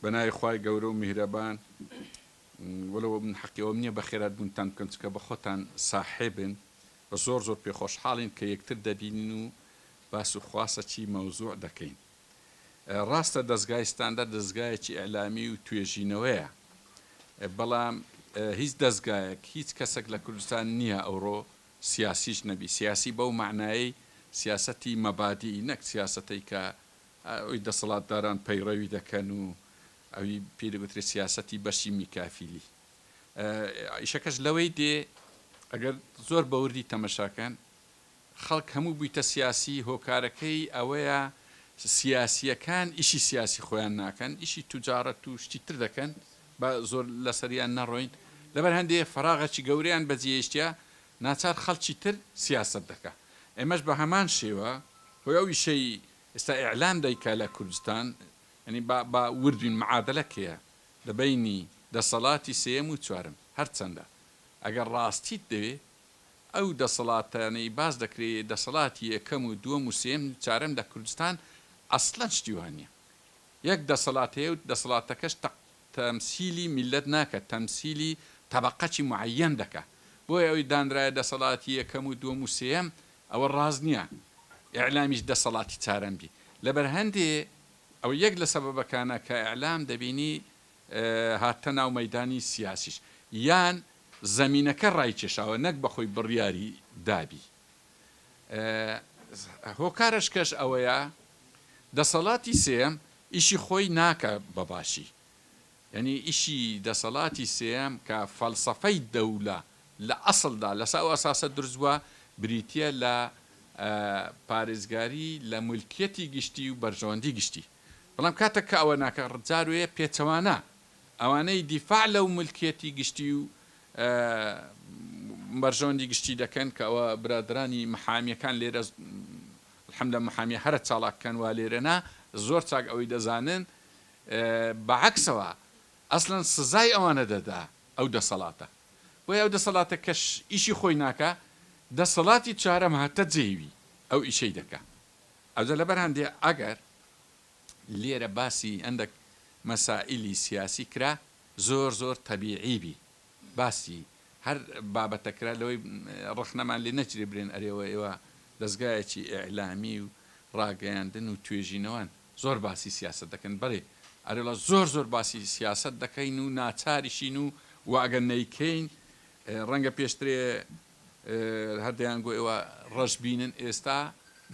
بەناوی خوای گەورە و میهرەبان وەلەو من حەقی ئەوەم نیە بەخێرات بونتان بکەم چونکە بەخۆتان ساحێبن و زۆر زۆر پێ خۆشحاڵین کە یەکتر دەبینین و باس و خواسەکی مەوزوع دەکەین ڕاستە دەزگای ستاندەر دەزگایەکی ئیعلامی و توێژینەوەیە بەڵام هیچ دەزگایەک هیچ کەسێک لە کوردستان نییە ئەوڕۆ سیاسیش نەبی سیاسی بەو معنایەی سیاسەتی مەبادی نەک سیاسەتەی کە ئەوەی دەسەڵاتداران پەیڕەوی دەکەن و ئەوی پێی دەگوترێت سیاسەتی بەرسی میکافیلی ئیشەکەش لەوەی دێ ئەگەر زۆر بەوردی تەمەشاکەن خەڵک هەموو بوویتە سیاسی هۆکارەکەی ئەوەیە سیاسیەکان ئیشی سیاسی خۆیان ناکەن ئیشی توجارەت و شتی تر دەکەن بە زۆر لەسەریان نەڕۆین لەبەر هەندێ فراغەکی گەوریان بەجێشتە ناچار خەڵکی تر سیاست دەکە ئێمەش بە هەمان شێوە هۆی ئەو ئیشەی ئێستا ئیعلان دەیکا لە کوردستان یانی با با ورد بین معادلە کێیە لە بەینی دەسەڵاتی سێیەم و چوارەم هەر چەندە ئەگەر ڕاستیت دەوێ ئەو دەسەڵاتانەی باس دەکرێ دەسەڵاتی یەکەم و دووەم و سێیەم چارەم لە کوردستان ئەسڵەن شتی وا نیە یەک دەسەڵات هەیە و دەسەڵاتەکەش تە تەمسیلی میللەت ناکا تەمسیلی تەبەقەکی معەیەن دەکا بۆیە ئەوی دانرایە دەسەڵاتی یەکەم و دووەم و سێیەم ئەوە ڕاست نیە ئیعلامیش دەسەڵاتی چارەن بی لەبەر هەندێ ئەوە یەک لە سەبەبەکانە کە ئیعلام دەبینی هاتتە ناو مەیدانی سیاسیش یان زەمینەکە ڕایکێشاوە نەک بەخۆی بڕیاری دابی هۆکارەشکەش ئەوەیە دەسەڵاتی سێم ئیشی خۆی ناکە بەباشی یەنی ئیشی دەسەڵاتی سێم کە فەلسەفەی دەولە لە ئەسڵدا لەسە ئەو ئەساسە دروست بووە، بریتییە لە پارێزگاری لە مولکیەتی گشتی و بەرژەوەندی گشتی. بەڵام کاتێک کە ئەوە ناکە، جاروەیە پێچەوانە ئەوانەی دیفاع لەو مولکیەتی گشتی و بەرژەوەندی گشتی دەکەن، کە ئەوە برادەرانی محامیەکان لێرە الحمدللە محامیە هەرە چاڵاکەن وا لێرەنا، زۆر چاک ئەوەی دەزانن بە عەکسەوە ئەسلەن سزای ئەوانە دەدا ئەو دەسەڵاتە بۆیە ئەو دەسەڵاتە کەش ئیشی خۆی ناکا دەسەڵاتی چوارەم هاتە جێ وی ئەو ئیشەی دەکا ئەوجە لەبەر هەندێ ئەگەر لێرە باسی هەندەک مەسائیلی سیاسی کرا زۆر زۆر تەبیعی بی باسی هەر بابەتە کرا لەوەی ڕەخنەمان لێ نەچرێ برێن ئەرێوە ئێوە دەزگایەکی ئیعلامی و ڕاگەیاندن و توێژینەوەن زۆر باسی سیاسەت دەکەن. بەلی ئەرێڵا زۆر زۆر باسی سیاسەت دەکەین و ناچاریشین و وە ئەگەر نەیکەین ڕەنگە پێشترێ هەر دەیانگۆ ئێوە ڕەش بینن ئێستا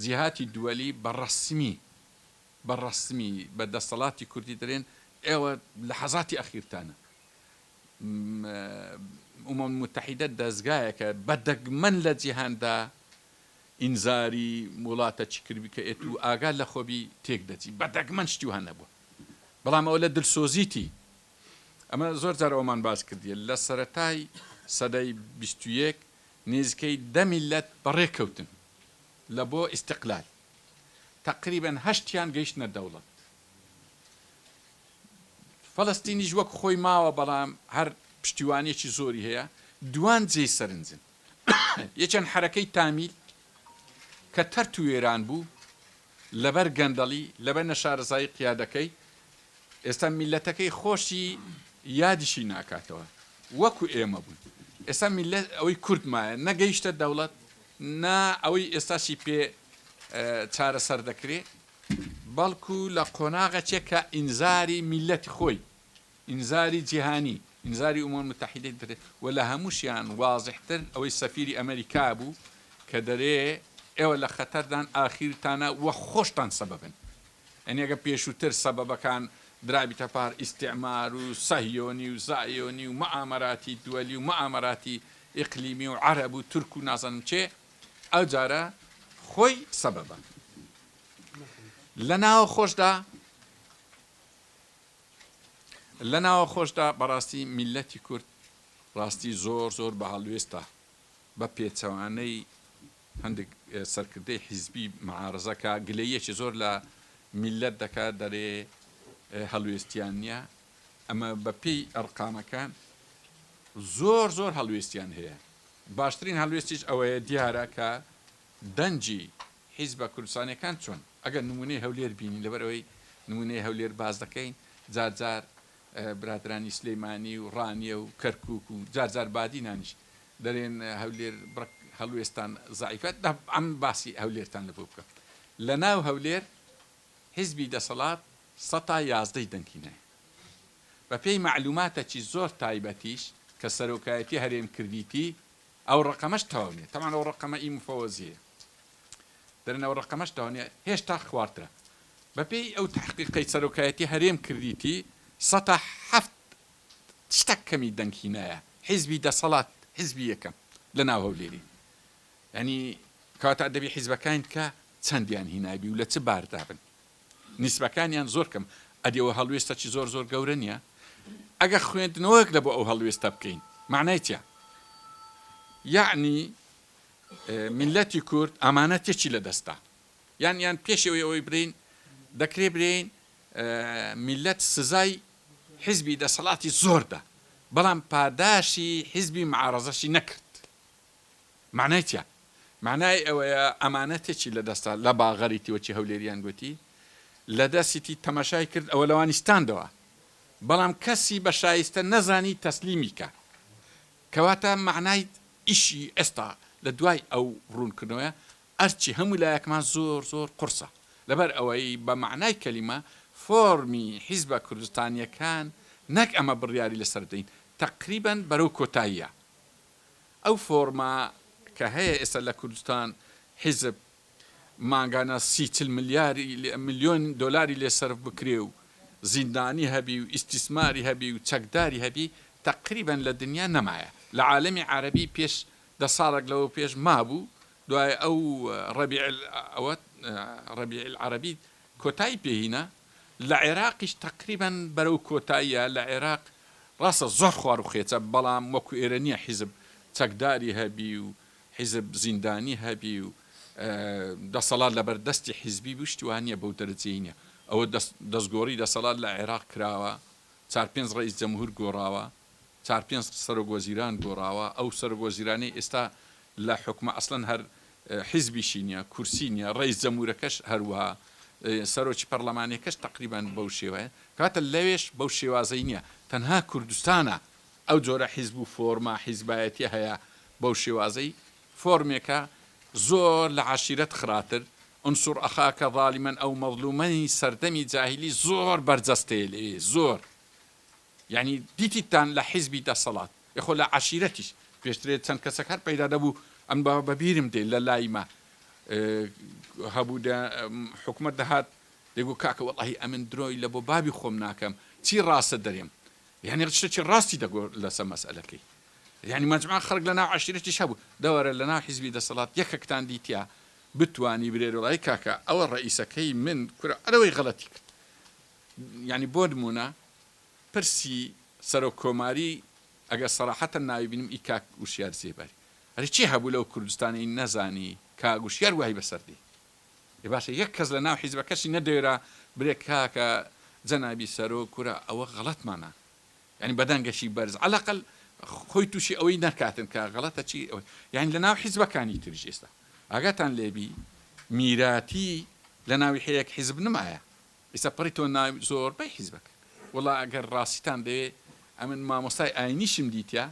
جیهاتی دووەلی بە ڕەسمی بە ڕەسمی بە دەستەڵاتی کوردی دەرێن ئێوە لە حەزاتی ئەخیرتانە ئومەم متحیدە دەزگایەکە بە دەگمەن لە جیهاندا ئینزاری ووڵاتە چکر بکە ێت و ئاگات لە خۆبی تێک دەچی بە دەگمەن شتی وەها نەبوە بەڵام ئەوە لە دلسۆزیتی ئەمە زۆر جار ئەوەمان باس کردیە لە سەرەتای سەدەی بیست و یەک نیزکەی دە میللەت بە ڕێ کەوتن لە بۆ ئیستقلال تەقریبەن هەشتیان گەیشتنە دەوڵەت فەلەستینیش وەک خۆی ماوە بەڵام هەر پشتیوانیەکی زۆری هەیە دوان جێی سەرنجن. ی چەند حەرەکەی تامیل کە تەرت و وێران بوو لەبەر گەندەڵی لەبەر نەشارەزایی قیادەکەی ئێستا میللەتەکەی خۆشی یادیشی ناکاتەوە وەکو ئێمە بوون ئێستا میللەت ئەوەی کورد مایە نە گەیشتە دەوڵەت نا ئەوەی ئێستاشی پێ چارەسەر دەکرێ بەڵکو لە قۆناغەچێک کە ئینزاری میللەتی خۆی ئینزاری جیهانی، ئینزاری ئومەم موتەحیدەی دەرێ و لە هەمووشیان وازحتر ئەوەی سەفیری ئەمەریکا بوو کە دەرێ ئێوە لە خەتەردان ئاخیرتانە و خۆشتان سەبەبن. یانی ئەگەر پێشووتر سەبەبەکان درابیتە پار ئیستیعمار و سەهیۆنی و زایۆنی و موئامەراتی دوەلی و موئامەراتی ئیقلیمی و عەرەب و تورک و نازانم کێ ئەوجارە خۆی سەبەبە لە ناوەخۆشدا. لە ناوە خۆشدا بەڕاستی میللەتی کورد ڕاستی زۆر زۆر بە هەڵوێستە بە پێچەوانەی هەندێک سەرکردەی حیزبی معارزە کە گلەیەکی زۆر لە میللەت دەکا دەرێ هەلوێستیان نییە ئەمە بە پێی ئەرقامەکان زۆر زۆر هەلوێستیان هەیە باشترین هەلوێستیش ئەوەیە دیارە کە دەنگی حیزبە کوردستانیەکان چۆن؟ ئەگەر نمونەی هەولێر بینی لەبەر ئەوەی نمونەی هەولێر باس دەکەین جار جار برادرانی سلیمانی و ڕانیە و کەرکوک و جار جار بادینانیش دەرێن هەولێر بڕک هەڵوێستان زەعیفە تەبعەن باسی هەولێرتان لەبۆ بکەم لە ناو هەولێر حیزبی دەسەڵات سەتا یازدەی دەنگ هینایە بە پێی مەعلوماتەکی زۆر تایبەتیش کە سەرۆکایەتی هەرێم کردیتی ئەو ڕەقەمەش تەواو نیە تەبعەن ئەو ڕەقەمە ئی مفەوەزیەیە دەرێن ئەو ڕەقەمەش تەواو نیە هێشتا خوارترە بەپێی ئەو تەحقیقەی سەرۆکایەتی هەرێم کردیتی سەتا حەفت شتەک کەمی دەنگ هینایە حیزبی دەسەڵات حیزبی یەکەم لە ناو هەولێری یانی کەواتە دەبی حیزبەکاین کە چەندیان هینابی و لە چ باردابن نیسبەکانیان زۆر کەم ئەدی ئەوە هەڵوێستە چی زۆر زۆر گەورە نیە ئەگەر خوێندنەوەک لەبۆ ئەو هەڵوێستە بکەین مەعنای چیە یەعنی میلەتی کورد ئامانەتێکی لە دەستە یان یان پێش ئەوەی ئەوەی برین دەکرێ برین میلەت سزای حزبی دەسەڵاتی زۆر دا بەڵام پاداشی حزبی معارەزەشی نەکرد مەعنای چیە؟ مەعنای ئەوەیە ئەمانە تێکی لە دەستە لە باغەری تی وەکی هەولێریان گۆتی لە دەسی تی تەمەشای کرد ئەوە لەوانی ستاندەوە بەڵام کەسی بە شایستە نەزانی تەسلیمی کا کەواتە مەعنای ئیشی ئێستا لە دوای ئەو ڕوون کردنەوەیە ئەرکی هەموو لایەکمان زۆر زۆر قورسە لەبەر ئەوەی بە مەعنای کەلیمە فۆرمی حیزبە کوردستانیەکان نەک ئەمە بڕیاری لە سەر بدەین تەقریبەن بەرەو کۆتاییە ئەو فۆڕمە کە هەیە ئێستا لە کوردستان حیزب مانگانە سی چل ملیاری ملیۆن دۆلاری لێ سەرف بکرێ و زیندانی هەبی و ئیستیسماری هەبی و چەکداری هەبی تەقریبەن لە دنیا نەمایە لە عالەمی عارەبی پێش دە ساڵەک لەوە پێش مابوو دوای ئەو ڕەبیعل ئەوە ڕەبیعل عارەبی کۆتایی پێ هینا لە عێراقیش تەقریبەن بەرەو کۆتاییە، لە عێراق ڕاستە زۆر خواروخێچە، بەڵام وەکو ئێرە نییە حیزب چەکداری هەبی و حیزب زیندانی هەبی و دەسەڵات لەبەر دەستی حیزبی بی و شتی وا نییە بەو دەرەجەی نییە، ئەوە دەستگۆڕی دەسەڵات لە عێراق کراوە، چار پێنج ڕەئیس جەمهور گۆڕاوە، چار پێنج سەرۆک وەزیران گۆڕاوە ئەو سەرۆک وەزیرانەی ئێستا لە حوکمە ئەسڵەن هەر حیزبیشی نیە کورسی نیە ڕەیس جەمورەکەش هەروەها سەرۆکی پەڕلەمانیەکەش تەقریبەن بەو شێوەیە کەواتە لەوێش بەو شێوازەی نیە تەنها کوردستانە ئەو جۆرە حیزب و فۆرمە حیزبایەتیە هەیە بەو شێوازەی فۆرمێکە زۆر لە عەشیرەت خراتر انصر اخاک ظالما او مظلومای سەردەمی جاهیلی زۆر بەرجەستەیە لەوێ زۆر. یانی دیتیتان لە حیزبی دەسەڵات یەخۆ لە عەشیرەتیش پێشترێ چەند کەسەک هەر پەیدا دەبوو ئەم بە بەبیرم دێ لە لایمە هەبوو دە حکومەت دەهات دەگو کاکە وەڵاهی ئەمن درۆی لە بۆ بابی خۆم ناکەم چی ڕاستە دەرێم یعنی شتێکی ڕاستی دەگۆ لەسە مەسئلەکەی یعنی مەجموعە خەڵک لە ناو عەشیرەتیش هەبوو دەوەرە لە ناو حیزبی دەسەڵات یەکەکتان دیتیا بتوانی برێرۆڵای کاکە ئەوە ڕئیسەکەی من کورە ئەرەوەی غەڵەتی کرد یانی بۆ نمونە پرسی سەرۆک کۆماری ئەگەر سەراحەتەن ناوی بینم ئی کاک وشیار زێباری ئەرێ چی هەبوو لەو کوردستانەی نەزانی کاک وشیار وای بەسەر دێ ئێ باشە یەک کەس لە ناو حیزبەکەشی نەدەێرا برێ کاکە جەنابی سەرۆک کورە ئەوە غەڵەتمانە یعنی بەدەنگەکی بەرز عەلەقەل خۆی تووشی ئەوەی نەکاتن کە غەڵەتە چی یعنی لە ناو حیزبەکانی تریش ئێستا ئاگاتان لێبی میراتی لە ناوی هەیەک حیزب نمایە ئیستا پڕیتەوە ناوی زۆربەی حیزبەکە. وەڵا گەر ڕاستیتان دەوێ ئەمن مامۆستای ئاینیشم دیتیە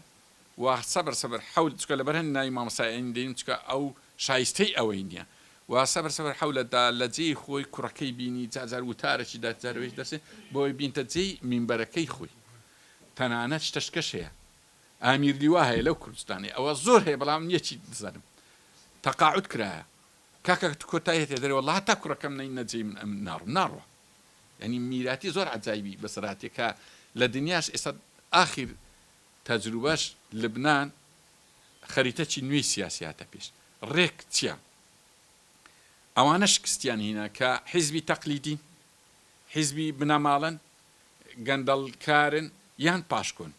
وا سەبر سەبر حەول چکە لەبەر هەند ناوی مامۆستای ئاینی دەینم چکە ئەو شایستەی ئەوەی نیە وا سەبر سەبر حەولە دا لە جێی خۆی کوڕەکەی بینی جار جار وتارەکی دەت جار وێش دەرسێ بۆی بینتە جێی مینبەرەکەی خۆی تەنانەت شتەشکەش هەیە ئامیر لیوا هەیە لەو کوردستانەی ئەوە زۆر هەیە بەڵام یەکی دزانم تەقاعود کرایە کاکە کۆتای هەتیە دەرێ وەڵا هەتا کوڕەکەم نەی نەجێی من ئەمن ناڕم ناڕوا یعنی میراتی زۆر عجایبی بەسەراتێ کە لە دنیاش ئێستا ئاخیر تەجروبەش لبنان خەریتەکی نوێی سیاسی هاتە پێش ڕێک چیە ئەوانە شکستیان هینا کە حیزبی تەقلیدین حیزبی بنەماڵەن گەندەڵکارن یان پاشکۆن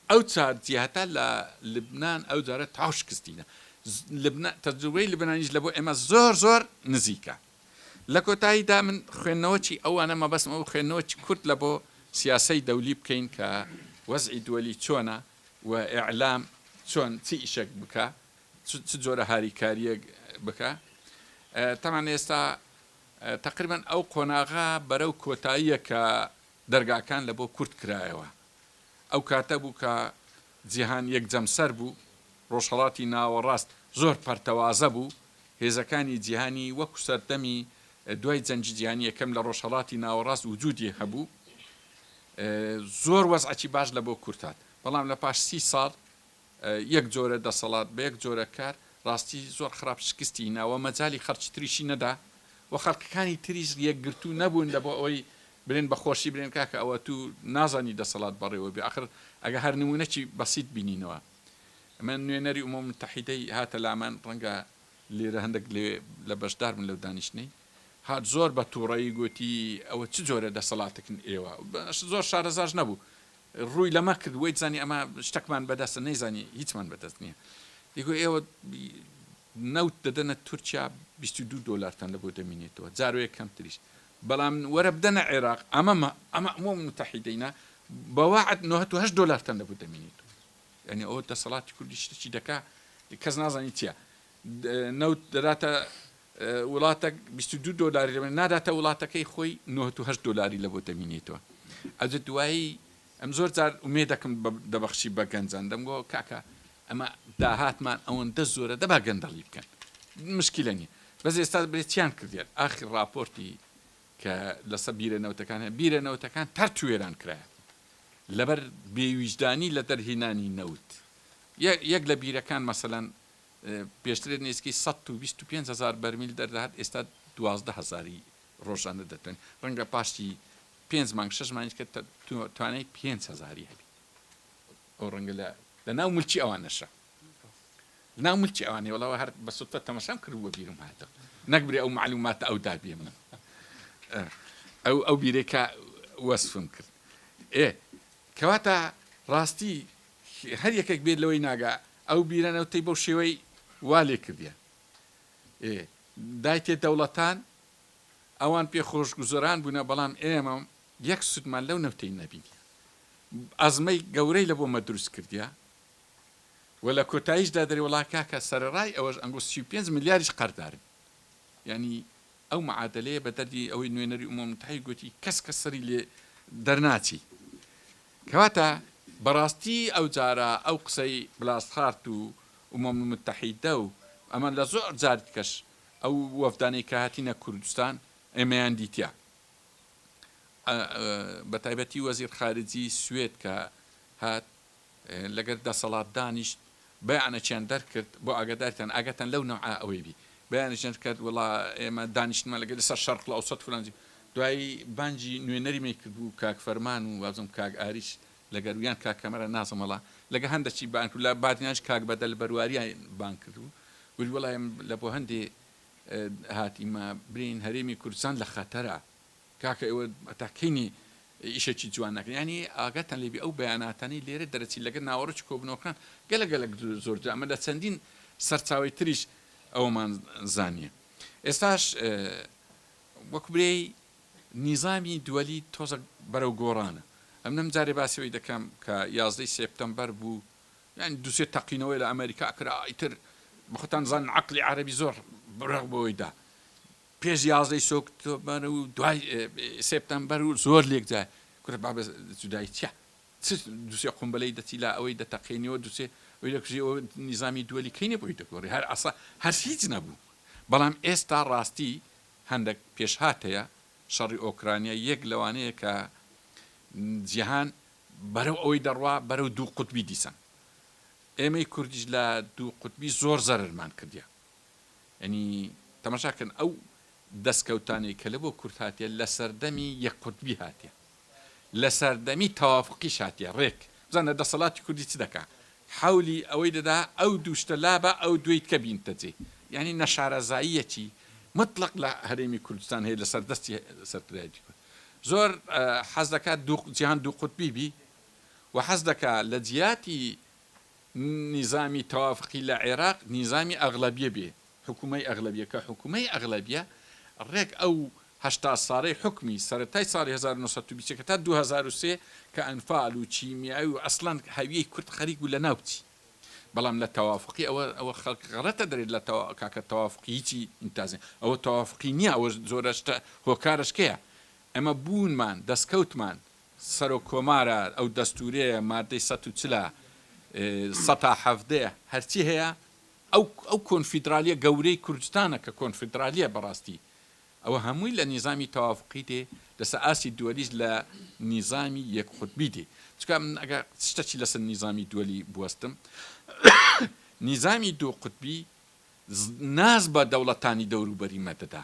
ئەو چار جیهتە لە لبنان ئەو جارە تاو شکستینە لبنان تەجروبەی لبنانیش لە بۆ ئێمە زۆر زۆر نزیکە لە کۆتایی دا من خوێندنەوەچی ئەوانە مەبەستم ئەو خوێندنەوەچی کورت لە بۆ سیاسەی دەولی بکەین کە وەزعی دوەلی چۆنە و ئیعلام چۆن چ ئیشەک بکا چ جۆرە هاریکاریەک بکا تەمان ئێستا تقریبا ئەو قۆناغە بەرەو کۆتاییە کە دەرگاکان لە بۆ کورد کرایەوە. ئەو کاتە بوو کە جیهان یەک جەمسەر بوو، ڕۆژهەڵاتی ناوەڕاست زۆر پەرتەوازە بوو، هێزەکانی جیهانی وەکو سەردەمی دوای جەنگی جیهانی یەکەم لە ڕۆژهەڵاتی ناوەڕاست وجودی هەبوو. زۆر وەزعەکی باش لە بۆ کورد هات. بەڵام لە پاش سی ساڵ یەک جۆرە دەسەڵات بەیەک جۆرە کار ڕاستی زۆر خراپ شکستی هینا وە مەجالی خەڵکی تریشی نەدا وە خەڵکەکانی تریش یەکگرتوو نەبوون لە بۆ ئەوەی بلێن بەخۆشی بلێن کاکە ئەوە تو نازانی دەسەڵات بەڕێوە بێ ئەخر ئەگە هەر نمونەکی بەسیت بینینەوە من نوێنەری ئومەو متحیدەی هاتە لامان ڕەنگە لیرە هەندەک لەوێ لە بەشدار بن لەو دانیشتنەی هات زۆر بە توڕەیی گۆتی ئەوە چ جۆرە دەسەڵاتەکن ئێوە زۆر شارەزاش نەبوو ڕووی لەمە کرد وەیت زانی ئەمە شتەکمان بەدەستە نەیزانی هیچمان بەدەست نییە دیگۆ ئێوە نەوت دەدەنە تورکیا 22 دۆلارتان لە بۆ دەمینێتەوە جارۆیە کەمتریش بەڵام وەرە بدەنە عێراق ئەمەمە ئەمە ئەمۆ متحیدەینە بەواعد 98 دۆلارتان لە بۆ دەمینێتەوە یعنی ئەوە دەسەڵاتی کوردی شتێکی دەکا کەس نازانی چیە نەوت دەداتە وڵاتەک بیست و دوو دۆلاری لە بەرمیل ناداتە وڵاتەکەی خۆی نۆهەت و هەشت دۆلاری لە بۆ دەمینێتەوە ئەجە دوایی ئەم زۆر جار ئومێ دەکەم دەبەخشی بە گەنجان دەمگۆ کاکە ئەمە داهاتمان ئەوەندە زۆرە دەبا گەندەڵی بکەن مشکلە نییە بەس ئێستا برێت چیان کردیان ئاخی راپۆرتی کە لەسە بیرە نەوتەکان هەیە بیرە نەوتەکان تەر توێران کرایە لەبەر بێویژدانی لە دەرهێنانی نەوت یەک لە بیرەکان مەسەەن پێشتر نزیکەی سەد و بیست و پێنج هەزار بەرمیل دەردەهات، ئێستا دوازدە هەزاری ڕۆژانە دەتوانین، ڕەنگە پاشی پێنج مانگ شەش مانگیش کە توانای پێنج هەزاری هەبین، ئەو ڕەنگە لە لە ناو ملکی ئەوانەشە لە ناو ملکی ئەوانەیە، وەڵا هەر بە سوتە تەماشام کرد بوو بیرم هاتەوە نەکبرێ ئەو معلوماتە ئەو دابێ من ئەو ئەو بیرێکە وەسفم کرد ئێ کەواتە ڕاستی هەر یەکێک بێت لەوەی ناگا ئەو بیرە نەوتەی بەو شێوەی وا لێ کردیە ئێ دایتێ دەوڵەتان ئەوان پێ خۆش گوزەران بوونە بەڵام ئێمە یەک سوودمان لەو نەوتەی نەبینیە ئەزمەی گەورەی لە بۆ مە دروست کردیە و لە کۆتاییشدا دەری وڵاکاکە سەرڕای ئەوەش ئەنگۆ 35 ملیاریش قەردارن یعنی ئەو معادلەیە بە دەردی ئەوەی نوێنەری ئومەمتحی گوتی کەس کە سەری لێ دەرناچی کەواتە بەڕاستی ئەو جارە ئەو قسەی بلاسخارت و ئومەم موتەحیدە و ئەمە لە زۆر جاری دیکەش ئەو وەفدانەی کە هاتینە کوردستان ئێمەیان دیتیە بە تایبەتی وەزیر خارجی سوێد کە هات لەگەر دەسەڵات دانیشت بیانە چیان دەرکرد بۆ ئاگادارتان ئاگاتان لەو نەوعە ئەوەی بی بیانە چیان دەرکرد وەڵا ئێمە دانیشتمان لەگەل لەسەر شەرق الاوسط فلان جی دوایی بانجی نوێنەری مەی کرد بوو کاک فەرمان و وازم کاک ئاریش لەگەر و یان کاک کامەران نازم وەڵا لەگە هەندە چی بانگ کرد لە بادینانش کاک بەدەل بەرواریان بانگ کرد بوو وتی وەڵا ئێمە لە بۆ هەندی هاتیمە برێین هەرێمی کوردستان لە خەتەرە. کاکە ئێوە هەتا کەینی ئیشەکی جوان ناکەن یانی ئاگاتان لێبی ئەو بەیاناتانەی لێرە دەرەچی لەگەر ناوەڕۆکی کۆبنەوەکان گەلە گەلەک زۆرتر ئەمە لە چەندین سەرچاوەی تریش ئەوەمان زانیە ئێستاش وەک برێی نیزامی دووەلی تۆزە بەرەو گۆڕانە ئەم نەم جارێ باسیەوەی دەکەم کە یازدەی سێپتەمبەر بوو یان دوسێ تەقینەوەی لە ئەمریکا کرا ئیتر بەخۆتان زان عقلی عربی زۆر بڕغ بۆیدا پێش یازدەی سۆکتۆبەر و دوای سێپتەمبەر و زۆر لێکجار کورە بابە جودایی چیە چ دوسێ قومبەلەی دەچی لا ئەوەی دەتەقێنیەوە دوسێ ئەوی دەکوژی ئەوە نیزامی دووەلی کەی نەبووی دەگۆڕی هەر عەسا هەر هیچ نەبوو بەڵام ئێستا ڕاستی هەندێک پێشهات هەیە شەڕی ئۆکرانیا یەک لەوانەیە کە جیهان بەرەو ئەوەی دەڕوا بەرەو دوو قوتبی دیسان ئێمەی کوردیش لە دوو قوتبی زۆر زەرمان کردیە یەنی تەماشا کەن ئەو دەسکەوتانەی کە لە بۆ کورد هاتیە لە سەردەمی یەک قوتبی هاتیە لە سەردەمی تەوافقیش هاتیە ڕێک بزانە دەسەڵاتی کوردی چ دەکا حەولی ئەوەی دەدا ئەو دوو شتە لابا ئەو دووی تکە بینتە جێ یەنی نەشارەزاییەکی مطلق لە هەرێمی کوردستان هەیە لە سەر دەستی سەرکردایەتی کورد زۆر حەز دەکا دوو جیهان دوو قوتبی بی و حەز دەکا لە جیاتی نیزامی تەوافقی لە عێراق نیزامی ئەغلەبیە بێ حکومەی ئەغلەبیە کە حکومەی ئەغلەبیە ڕێک ئەو هەشتا ساڵەی حکومی سەرەتای ساڵی هەزار و نۆ سەد و بیست و یەک هەتا دوو هەزار و سێ کە ئەنفال و کیمیاوی و ئەسڵەن هەویەی کورد خەریک بوو لەناو بچی بەڵام لە تەوافقی ئەوە ئەوە خەڵک غەڕەتە دەرێت لە تەوا کاکە تەوافقی هیچی ئینتازێ ئەوە تەوافقی نیە ئەوە زۆرە شتە هۆکارەش کێە ئەمە بوونمان دەسکەوتمان سەرۆک کۆمارە ئەو دەستورەیە مادەی سەد و چل سەد تا حەڤدە هەرچی هەیە ئەو ئەو کۆنفیدرالیە گەورەی کوردستانە کە کۆنفیدرالیە بەڕاستی ئەوە هەمووی لە نیزامی تەوافقی دێ لەسە ئاستی دوەلیش لە نیزامی یەک قوتبی دێ چکا من ئەگە شتەکی لەسە نیزامی دوەلی بوەستم نیزامی دوو قوتبی ناز بە دەوڵەتانی دەوروبەری مە دەدا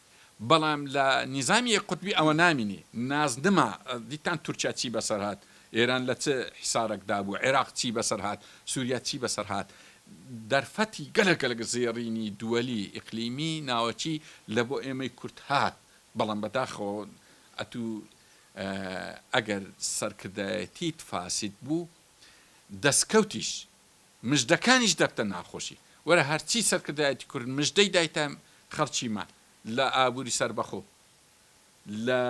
بەڵام لە نیزامی یەک قوتبی ئەوە نامینێ نازنما دیتان تورکیا چی بەسەر هات ئێران لە چ حیسارەک دابوو عێراق چی بەسەر هات سوریا چی بەسەر هات دەرفەتی گەلەک گەلەک زێڕینی دوەلی ئیقلیمی ناوەکی لە بۆ ئێمەی کورد هات بەڵام بەداخەوە ئەتو ئەگەر سەرکردایەتیت فاسید بوو دەسکەوتیش مژدەکانیش دەبتە ناخۆشی. وەرە هەرچی سەرکردایەتی کورد مژدەی دایتە خەڵکیمان لە ئابوری سەربەخۆ، لە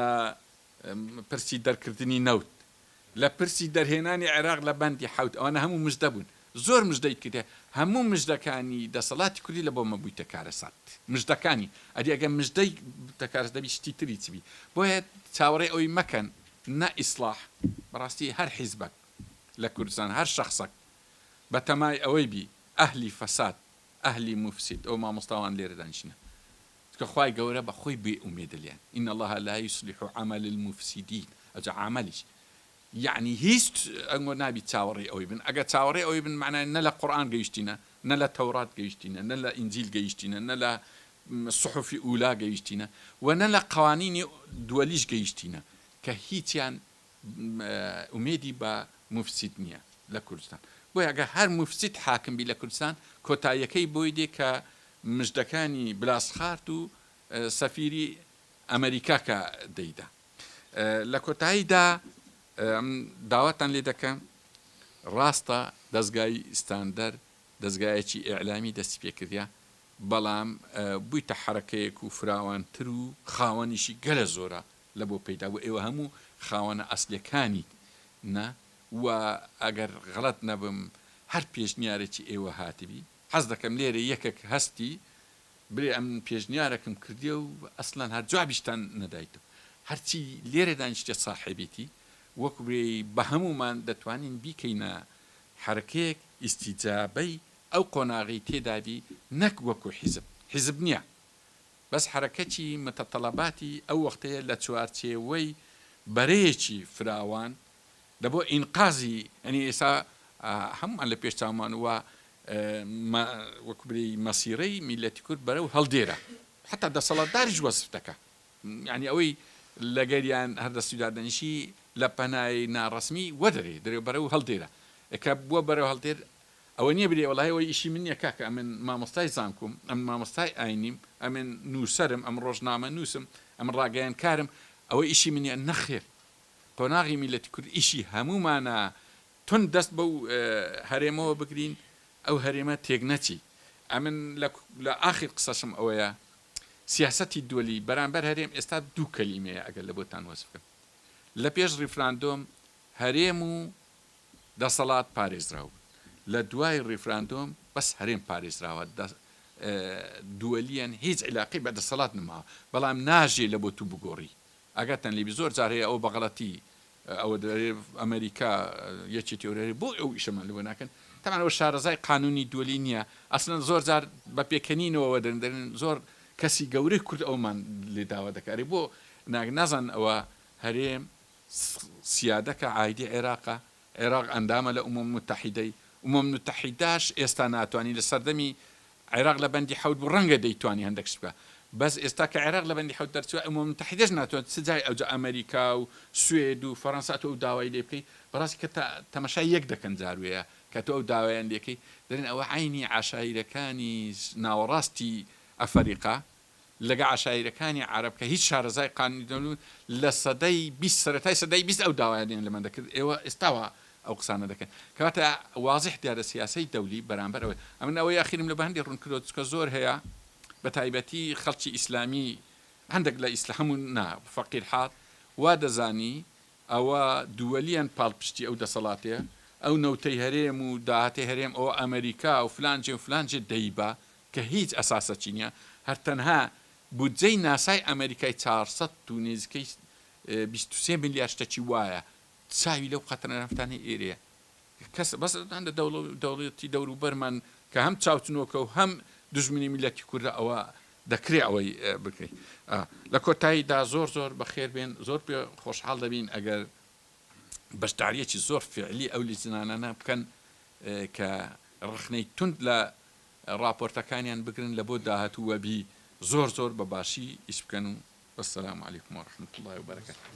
پرسی دەرکردنی نەوت، لە پرسی دەرهێنانی عێراق لە بەندی حەوت ئەوانە هەموو مژدە بوون. زۆر مژدەی کردیە. هەموو مژدەکانی دەسەڵاتی کوردی لە بۆمە بویتە کارەسات. مژدەکانی. ئەدی ئەگەر مژدەی بتە کارەسات دەبی شتی تری چ بی. بۆیە چاوەڕێی ئەوەی مەکەن نە ئیسڵاح بەڕاستی هەر حیزبەک. لە کوردستان هەر شەخسەک بە تەمای ئەوەی بی ئەهلی فەساد ئەهلی موفسید ئەو مامۆستاوان لێرە دانیشنە چونکە خوای گەورە بە خۆی بێ ئومێدە لێیان ان اللە لا یصلح عمل المفسدین ئەجا عاملیش یعنی هیچ ئەنگۆ نابی چاوەڕێی ئەوەی بن ئەگە چاوەڕێ ئەوەی بن معنای نە لە قورئان گەیشتینە نە لە تەورات گەیشتینە نە لە ئینجیل گەیشتینە نە لە صحفی ئولا گەیشتینە و نە لە قوانینی دووەلیش گەیشتینە کە هیچیان ئومێدی بە موفسید نیە لە کوردستان بۆیە ئەگەر هەر موفسید حاکم بی لە کوردستان کۆتاییەکەی بۆی دێ کە مژدەکانی بلاسخارت و سەفیری ئەمەریکا کە دەیدا لە کۆتاییدا داواتان لێ دەکەم ڕاستە دەزگای ستاندەر دەزگایەکی ئیعلامی دەستی پێکردە بەڵام بوویتە حرەکەیەک و فراوانتر و خاوەنیشی گەلە زۆرە لە بۆ پەیدا بوو ئێوە هەموو خاوەنە ئەسلەکانیت نا و ئەگەر غەڵەت نەبم هەر پێشنیارێکی ئێوە هاتبی حەز دەکەم لێرە یەکەک هەستی بلێ ئەم پێشنیارەکم کردیە و ئەسلەن هەر جوابیشتان نەدایتەوە هەرچی لێرە دانیشتە ساحێبیتی وەک بێ بە هەموومان دەتوانین بیکەینە حەرەکەیەک ئیستیجابەی ئەو قۆناغەی تێدابی نەک وەکو حیزب حیزب نیە بەس حەرەکەتی متطلباتی ئەو وەختەیە لە چوارچێوەی بەرەیەکی فراوان لە بۆ ئینقازی یەنی ئێستا هەموومان لە پێش چاومان و وەکو بری مەسیرەی میلەتی کورد بەرەو هەڵدێرە حتا دەسەڵاتداریش وەسف دەکە یعنی ئەوەی لەگەریان هەر دەستودادەنیشی لە پەنای ناڕسمی وەدەرێ درێ بەرەو هەڵدێرە ئەکە بووە بەرەو هەڵدێر ئەوە نیە بلێ وەڵاهی ئەوە ئیشی من نیە کاکە ئەمن مامۆستای زانکۆم ئەمن مامۆستای ئاینیم ئەمن نوسەرم ئەمن ڕۆژنامە نوسم ئەمن ڕاگەیەنکارم ئەوە ئیشی من نیە نەخێر قۆناغی میللەتی کورد ئیشی هەموومانە تون دەست بەو هەرێمەوە بگرین ئەو هەرێمە تێک نەچی ئەمن لە ئاخیر قسەشم ئەوەیە سیاسەتی دولی بەرامبەر هەرێم ئێستا دوو کەلیمەیە ئەگەر لە بۆتان وەسف بکەم لە پێش ڕیفراندۆم هەرێم و دەسەڵات پارێزراو بوون لە دوای ڕیفراندۆم بەس هەرێم پارێزراوە دووەلیەن هیچ عیلاقی بە دەسەڵات نماوە بەڵام ناژێ لە بۆ تو بگۆڕی ئەگەتەن لیبی زۆر جار هەیە ئەو بەغڵەتی ئەوە ئەمریکا یەکی تێورەری بۆ ئەو ئیشەمان لەوە ناکەن تەمانەوە شارەزای قانونی دولی نییە ئەسلەن زۆر جار بە پێکەنینەوە دەندرن زۆر کەسی گەورەی کورد ئەومان لێ داوا دەکاری بۆ ناگ نازان ئەوە هەرێم سیادەکە عایدی عێراقە، عێراق ئەندامە لە ئومەم موتەحیدەی، ئومەم نوتەحیداش ئێستا ناتوانی لە سەردەمی عێراق لە بەندی حەوت بوو ڕەنگە دەیتوانی هەندەک شت بکا بەس ئێستا کە عێراق لە بەندی حەوت دەرچوە ئومەم موتەحیدەش ناتوان چ جای ئەوجا ئەمەریکا و سوێد و فەرەنسا ئەتو ئەو داوای لێ بکەی بەڕاستی کە تا تەمەشای یەک دەکەن جار وێە کە تۆ ئەو داوایان لێکەی دەرێن ئەوە عەینی عەشایرەکانی ناوەڕاستی ئەفەریقا لەگە عەشایرەکانی عەرەب کە هیچ شارەزای قانونی نەبوون لە سەدەی بیست سەرەتای سەدەی بیست ئەو داوایانیان لەمە دەکرد ئێوە ئێستاوە ئەو قسانە دەکەن کەواتە وازح دیارە سیاسەی دەولی بەرامبەر ئەوەی ئەمن ئەوەی ئەخیرم لە بەهەندی ڕوون کردەوە چکە زۆر هەیە بە تایبەتی خەڵکی ئیسلامی هەندێک لە ئیسلا هەموو نا فەقیر حاڵ وا دەزانی ئەوە دووەلیان پاڵپشتی ئەو دەسەڵاتێ ئەو نەوتەی هەرێم و داهاتی هەرێم ئەوە ئەمریکا و فلان جێ و فلان جێ دەیبا کە هیچ ئەساسەکی نیە هەر تەنها بودجەی ناسای ئەمەریکای چوار سەد و نێزیکەی بیست و سێ ملیار شتەکی وایە چاوی لەو قەترە نەفتانەی ئێرەیە کەس بەس لە دەوڵە دەوڵەتی دەورو بەرمان کە هەم چاوچنۆکە و هەم دژمنی میلەتی کوردە ئەوە دەکرێ ئەوەی بکەی لە کۆتایی دا زۆر زۆر بەخێر بێن زۆر پێ خۆشحاڵ دەبین ئەگەر بەشداریەکی زۆر فعلی ئەو لیجنانانە بکەن کە ڕخنەی تونند لە ڕاپۆرتەکانیان بگرن لە بۆ داهاتوو وەبی زۆر زۆر بە باشی ئیش بکەن و وەسەلام علیکم و ڕەحمەتوڵڵای و بەرەکەتوو.